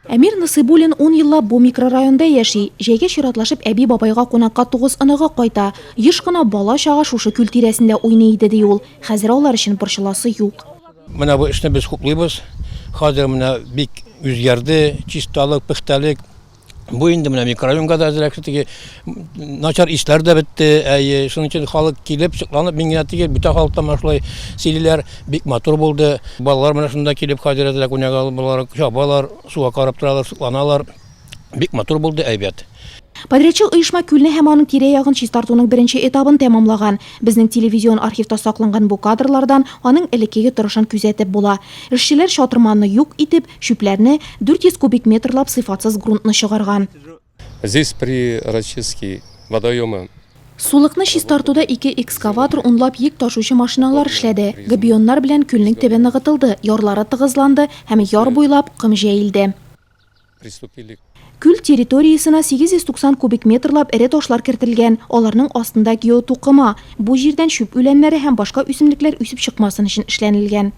Әмир Насыйбуллин ун еллап бу микрорайонда яши. Җәйгә чиратлашып әби-бабайга кунакка тугыз оныгы кайта. Еш кына бала-чага шушы күл тирәсендә уйный иде, ди ул. Хәзер алар өчен борчыласы юк. Менә бу эшне без хуплыйбыз. Хәзер менә бик үзгәрде, чисталык, пөхтәлек. Бу инде менә микрорайонга да әзрәк. Начар ишләр дә бетте, әйе, шуның өчен халык килеп, шыкланып, мин генә түгел, бүтән халык та менә шулай сөйлиләр, бик матур булды. Балалар менә шунда килеп хәзер әзрәк уйнап алып булалар, чабалар, суга карап торалар, шыкланалар. Бик матур булды, әйбәт. Подрядчы оешма күлне һәм аның тирә-ягын чистартуның беренче этабын тәмамлаган. Безнең телевизион архивта сакланган бу кадрлардан аның элеккеге торышын күзәтеп була. Эшчеләр чатырманны юк итеп, чүпләрне, 400 кубик метрлап сыйфатсыз грунтны чыгарган. Здесь при Рачиски водоемы. Сулыкны чистартуда ике экскаватор, унлап йөк ташучы машиналар эшләде. Габионнар белән күлнең төбе ныгытылды, ярлары тыгызланды һәм яр буйлап ком җәелде. Күл территориясенә 890 кубик метрлап эре ташлар кертелгән, аларның астында геотукыма, бу җирдән чүп үләннәре һәм башка үсемлекләр үсеп чыкмасын өчен эшләнелгән.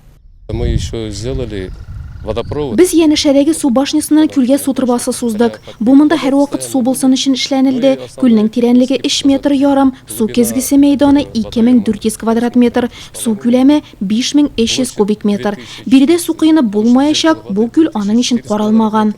Без янәшәдәге су башнясыннан күлгә су торбасы суздык. Бу монда һәрвакыт су булсын өчен эшләнелде. Күлнең тирәнлеге өч метр ярым, су кезгесе мәйданы 2400 квадрат метр, су күләме 5300 кубик метр. Биредә су коенып булмаячак, бу күл аның өчен каралмаган.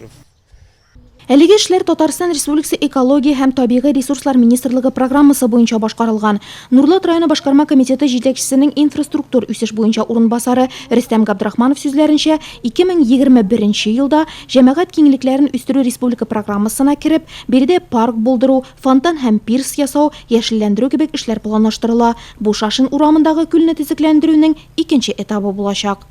Әлеге эшләр Татарстан Республикасы Экология һәм табигый ресурслар министрлыгы программасы буенча башкарылган. Нурлат районы башкарма комитеты җитәкчесенең инфраструктур үсеш буенча урынбасары Рөстәм Габдрахманов сүзләренчә, 2021 елда Җәмәгать киңлекләрен үстерү республика программасына кереп, биредә парк булдыру, фонтан һәм пирс ясау, яшелләндерү кебек эшләр планлаштырыла. Бу Шашин урамындагы күлне төзекләндерүнең икенче этабы булачак.